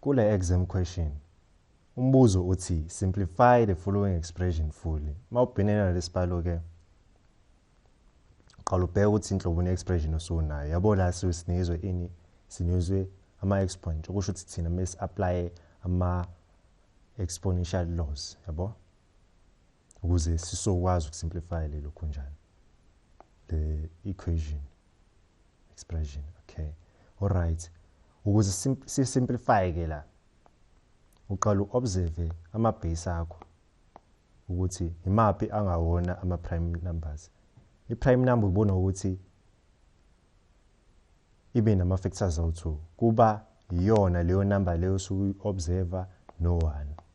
Kule exam question umbuzo uthi simplify the following expression fully. Mawubhinene nalesibalo ke qala ubheke ukuthi inhlobo ne-expression osunayo yabo la siwusinizwe ini sinizwe ama-exponent okusho ukuthi thina mesi-aplaye ama-exponential laws yabo ukuze sisokwazi ukusimplify lelo khunjana the equation expression okay all right ukuze si simplify ke la uqala uobserve ama base akho ukuthi imaphi angawona ama prime numbers i prime number ubona ukuthi ibe nama factors awu2 kuba iyona leyo number leyo suku observer no one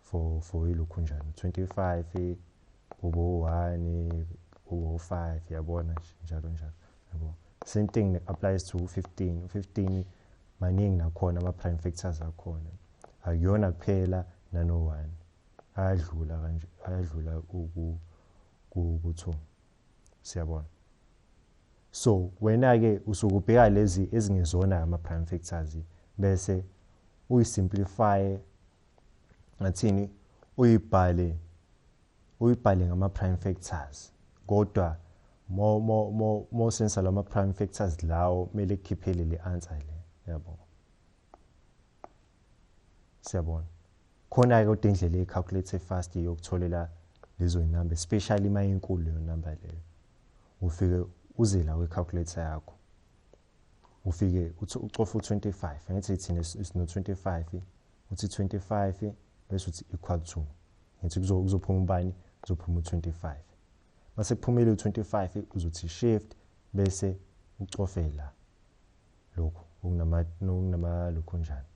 for for ilokhu njani 25 kubo 1 kubo 5 yabona njalo njalo yabo same thing applies to 15 15 maningi nakhona ama prime factors akhona akuyona kuphela nano 1 ayadlula kanje ayadlula ku ku 2 siyabona so wena ke usukubheka lezi ezingezona ama prime factors bese uyisimplify ngathini uyibhale uyibhale ngama prime factors kodwa mo mo mo mo sensa lama prime factors lawo mele kukhiphele le answer le yabo siyabona khona ke kodwa indlela ye calculate fast yokutholela lezo number especially uma inkulu leyo number leyo ufike uze la kwi calculator yakho ufike uthi ucofa u-25 angithi thina sino-25 uthi 25 bese uthi equal to ngithi kuzophuma ubani kuzophuma u-25 mase kuphumile u-25 uzothi shift bese ucofe la lokhu okunamaluku njani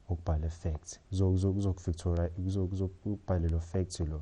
ukubhala fact kuzokufactora kuzokubhalelwa fact lo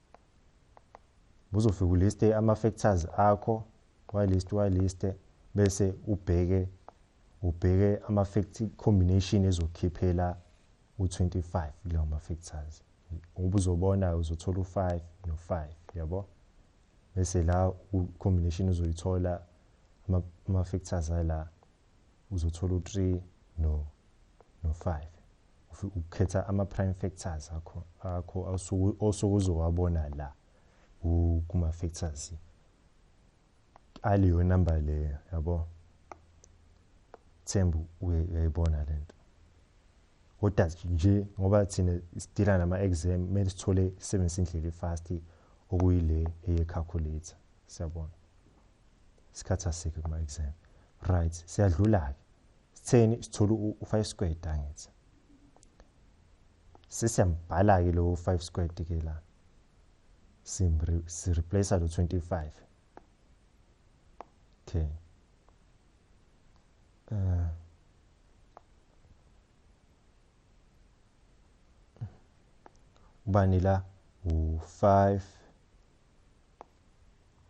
uzofika uliste ama-factors akho walist waliste bese ubheke ubheke ama-fact combination ezokukhiphela u-25 kulawo ma-factors ngoba uzobona uzothola u-5 no-5 yabo bese la combination uzoyithola ama-factors ala uzothola u3 no no 5 ukhetha ama prime factors akho akho osokuzowabona la kuma factors aliyo number le yabo thembu uyayibona lento kodwa nje ngoba thina sidila nama exam mele sithole sebenzisa indlela efast okuyile eye calculator siyabona isikhathi asikho kuma exam right siyadlula ke sitheni sithola u5 squared angithi sesiyambhala ke lo 5 squared ke la simri si replace lo 25 okay uh ubani la u5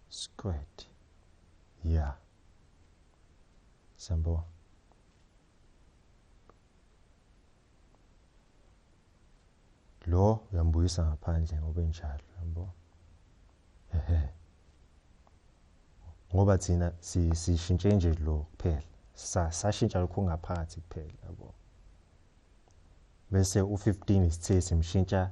squared yeah siyambona lo uyambuyisa ngaphandle ngoba enjalo yabo ehe ngoba thina sishintshe nje lo kuphela sashintsha lokho ngaphansi kuphela yabo bese u15 isithe simshintsha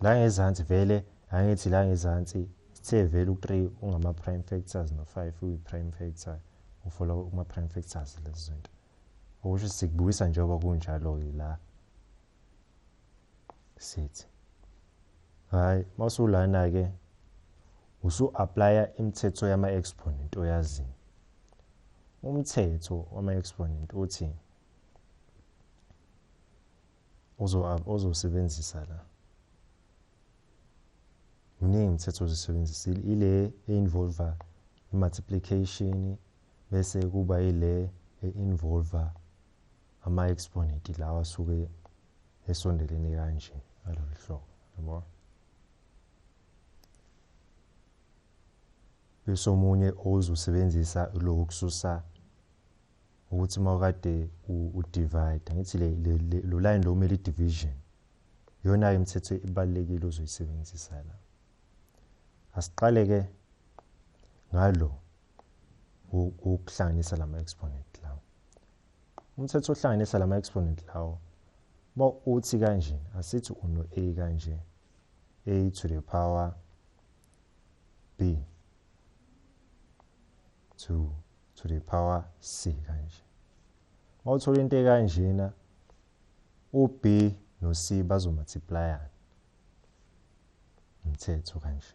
la ngezansi vele angithi la ngezansi sithe vele u-3 ungama-prime factors no-5 uyi-prime factor ufola kuma-prime factors lezi zinto okusho sikubukisa njengoba kunjalo-ke la sithi hhayi uma usulana-ke usu-aplaya imithetho yama-exponent oyazini umthetho wama-exponent uthi ozosebenzisa la miningi imithetho ozisebenzisa ile e-involva i-multiplication bese kuba ile e-involva ama-exponent lawa asuke esondelene kanje ngalolu hlobo yabo bese omunye ozosebenzisa lokhu kususa ukuthi uma kade udivide ngithi lo line lo kumele i-division iyona-ke imithetho ibalulekile ozoyisebenzisa la asiqale-ke ngalo wokuhlanganisa la ma-exponent lawo umthetho ohlanganisa la ma-exponent lawo uma uthi kanje asithi uno-a kanje a to the power b to to the power c kanje uma uthola into ekanjena ub no c bazomultiplyana umthetho kanje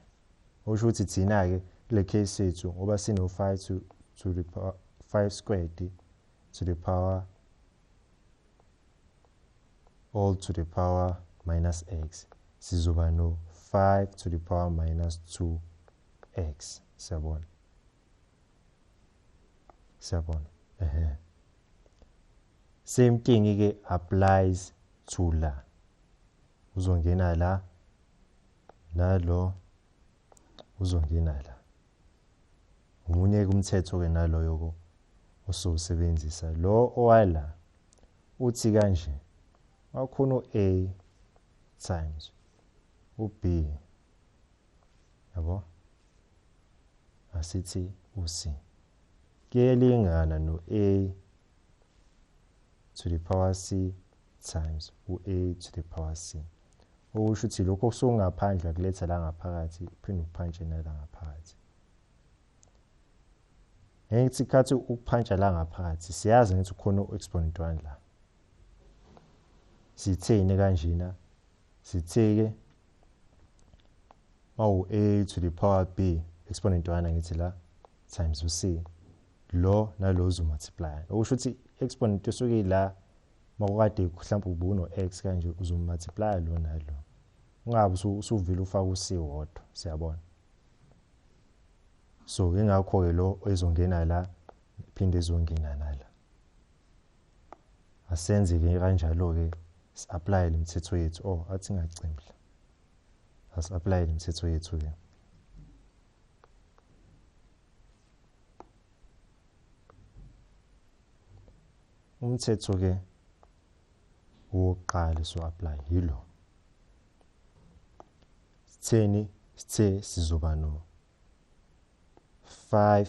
okusho ukuthi thina-ke kule case yethu ngoba sino-five to, to the power five squared to the power all to the power minus x sizoba no-five to the power minus two x siyabona siyabona ehe same thing ke applies to la uzongena la nalo uzongena la ngomunye kumthetho ke naloyo ko osowusebenzisa lo owala uthi kanje wakhona u-a times u-b yabo asithi uc kuyelingana no-a to the power c times u-a to the power c okusho ukuthi lokho kusokungaphandle akuletha la ngaphakathi uphinde ukuphanje nala ngaphakathi ngeke kuthi khathi ukuphanja la ngaphakathi siyazi ngithi ukhona u-exponent 1 la sitheni kanjena sithe-ke mawu-a to the power b exponent one angithi la times u-c lo nalo uzomultiplya okusho ukuthi exponent esuke ila makukade mhlawumbe ubuno-x kanje uzomultiplya lo nalo ungabe usuvile ufaka u-c wodwa siyabona so ingakho-ke lo ezongena la phinde ezongena nala asenze-ke kanjalo-ke si-aplayele imithetho yethu o oh, athi ngacimhla asi-aplayele imithetho yethu-ke umthetho-ke wokuqala so-aplaya yilo sitheni sithe sizoba no 5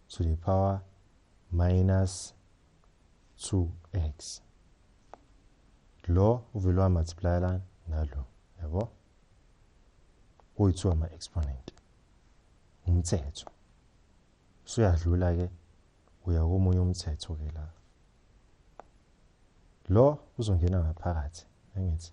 to the power minus 2x lo uvele wamultiply lana nalo yabo kuyithiwa ama-exponent umthetho usuyadlula-ke uya komunye umthetho-ke la lo uzongena ngaphakathi angithi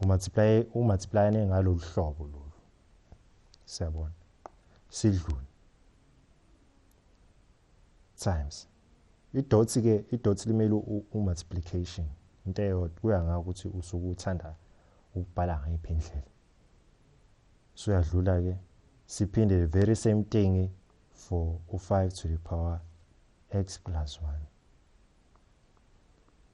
umultiply umultiply ne ngalolu hlobo lolu siyabona sidlule times idot ke idot limele umultiplication into eyodwa kuya ngakho ukuthi usuke uthanda ukubhala ngayiphi indlela so uyadlula ke siphinde the very same thing for u5 to the power x plus 1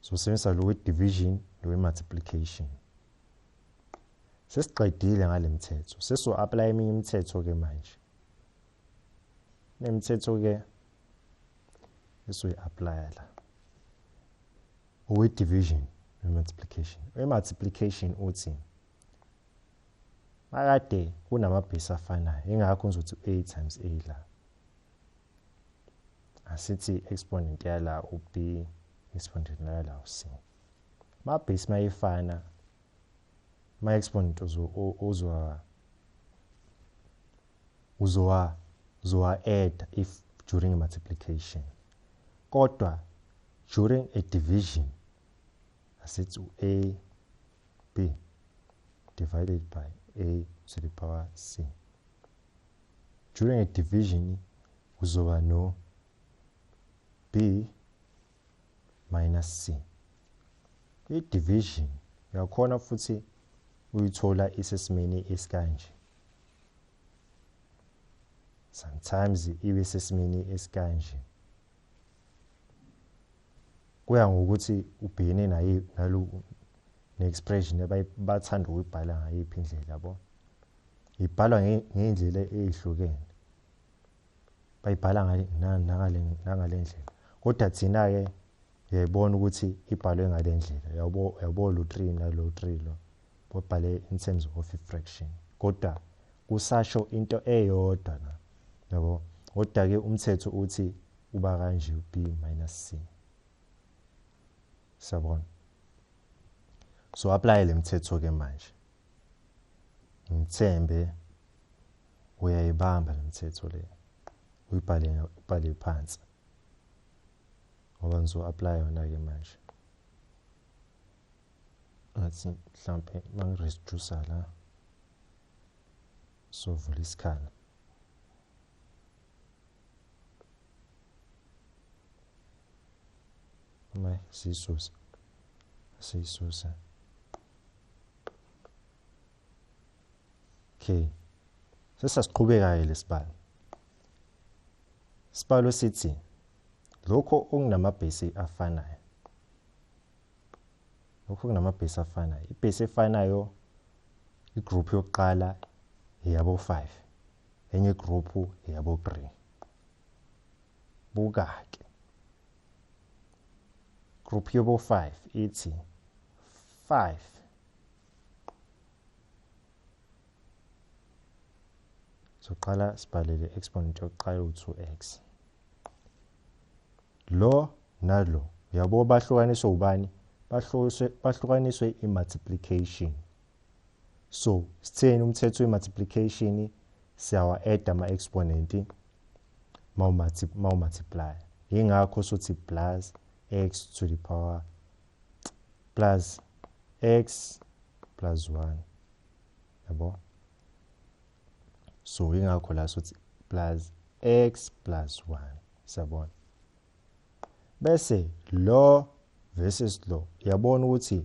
Sizosebenzisa lo we-division lo we-multiplication. Sesiqedile ngale mithetho. Seso-aplaya eminye imithetho-ke manje. Nemithetho-ke esoyi-aplaya la. Owe-division we-multiplication. We-multiplication uthi makade kunamabhesi afanayo ingakho ngizothi u-a times a la. asithi exponent yala u-b exponent yala u-c ma-base mayifana ma-exponent uzowa uzowa uzowa add if during multiplication kodwa during a division asithi u-a b divided by a to the power c during a division kuzoba no b minus c i-division uyakhona futhi uyithola isesimeni esikanje sometimes ibe sesimeni esikanje kuya ngokuthi ubhekene naye nalo ne-expression bathanda ukuyibhala ngayiphi indlela yabo ibhalwa ngey'ndlela ey'hlukene bayibhala nangale ndlela kodwa thina-ke uyayibona ukuthi ibhalwe ngale ndlela yabo lo three nalo three lo babhale in terms of fraction kodwa kusasho into eyodwa na yabo kodwa-ke umthetho uthi uba kanje u b minus c sabona so apply le mthetho ke manje ngithembe uyayibamba le mthetho le uyibhale ubhale phansi ngoba ngizo apply yona ke manje ngathi mhlampe mangireduce la sovula isikhala Ngai siyisuse. Siyisuse. Okay. Sesasiqhubeka-ke lesibalo. Isibalo sithi lokho okunamabhesi afanayo. Lokho kunamabhesi afanayo. Ibhesi efanayo igroup yokuqala yabo 5. enye igruphu eyabogri buka-ke group yobo-5 ithi 5 soqala sibhalele exponent yokuqala u-2x lo nalo uyabo bahlukaniswe ubani bahlukaniswe i-multiplication so sitheni umthetho we-multiplication siyawa-add ama-exponent mawu-multiply yingakho sothi plus x to the power plus x plus 1 yabo so yingakho la sothi plus x plus 1 siyabona bese lo versus lo yabona ukuthi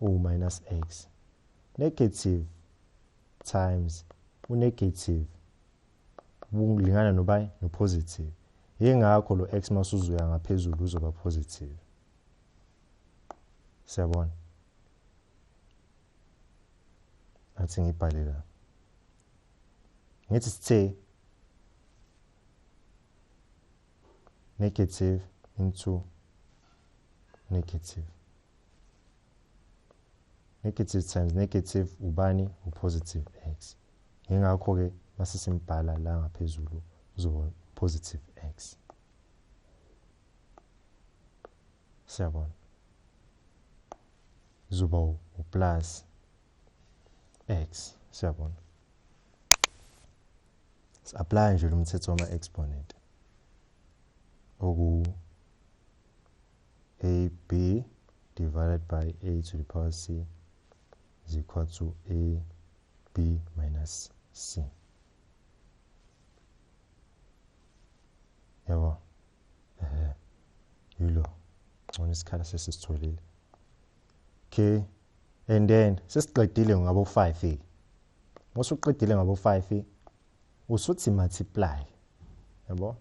uwu-minus x negative times unegative kulingana nobani nopositive yingakho lo x masuzuya ngaphezulu uzoba positive siyabona ngathi ngibhale la ngithi sithe negative into negative negative times negative ubani upositive x yingakho-ke mase simbhala la ngaphezulu uzoba positive x siyabona uzoba uplus x siyabona si-aplaya nje lo mthetho wama-exponent oku ab divided by a to the power c is equal to ab minus c yabo ehe yilo ngcono isikhala sesisitholile okay and then sesiqedile ngabo 5 ke musuqedile ngabo 5 usuthi multiply yabo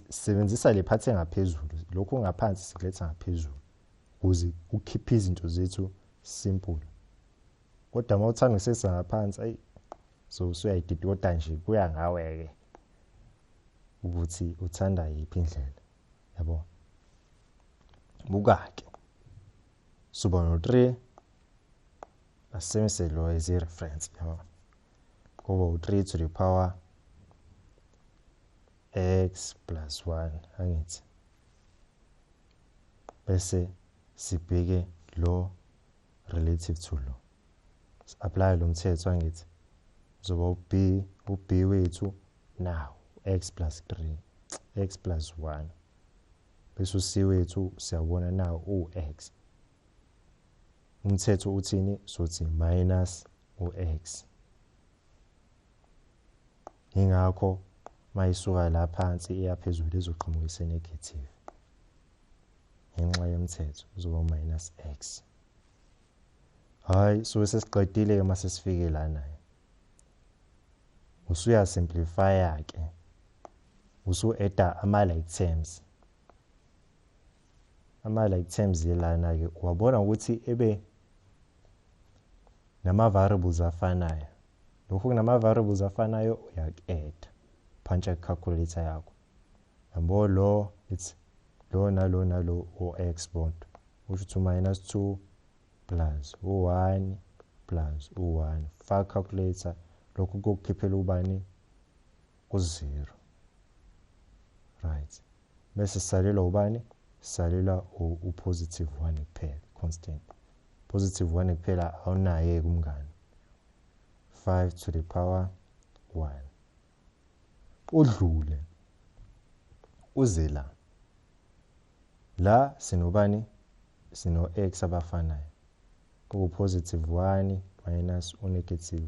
sebenzisa le phathi engaphezulu lokhu ngaphansi sikuletha ngaphezulu ukuze ukhiphe izinto zethu simple kodwa uma uthanda ukusesa ngaphansi ayi so usuyayididota nje kuya ngawe-ke ukuthi uthanda yiphi indlela yabo buka-ke suba no-three asebenzise lo as i-reference yabo kube u-3 to the power x plus 1 angithi bese sibheke lo relative to lo si-apply lo mthetho angithi uzoba u-b u-b wethu now x plus 3 x plus 1 bese u-c wethu siyabona now u-x umthetho uthini sothi minus u-x yingakho mayisuka la phansi iya phezulu izoqhamuka isenegative ngenxa yomthetho uzoba minus x hayi so sesiqedile ke mase sifike lana usuya simplify ke usu edda ama like terms ama like terms yelana ke wabona ukuthi ebe nama variables afanayo lokho kunama variables afanayo uyak-add puncher calculator yakho yabo lo it's lo nalo nalo o-x bond usho ukuthi minus 2 plus u-1 plus u-1 faka calculator lokhu kokukhiphela ubani u-0 right bese sisalelwa ubani sisalelwa upositive one kuphela constant positive one kuphela awunaye kumngani 5 to the power 1 udlule uze la la sinobani sino-x abafanayo kuwu-positive 1 minus u-negative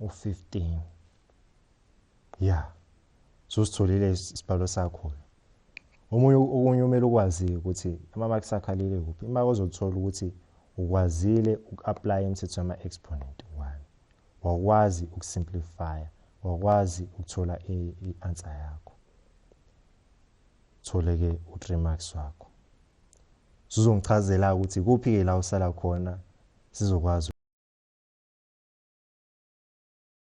u-15 ya susitholile isibhalo sakho omunye okunye umele ukwazi ukuthi ama-marks akho alele kuphi uma ozothola ukuthi ukwazile uku-aplaya imithetho yama-exponent one wakwazi ukusimplifya wakwazi ukuthola i-answer yakho thole-ke u-three marks wakho Sizongichazela ukuthi kuphi ke la usala khona sizokwazi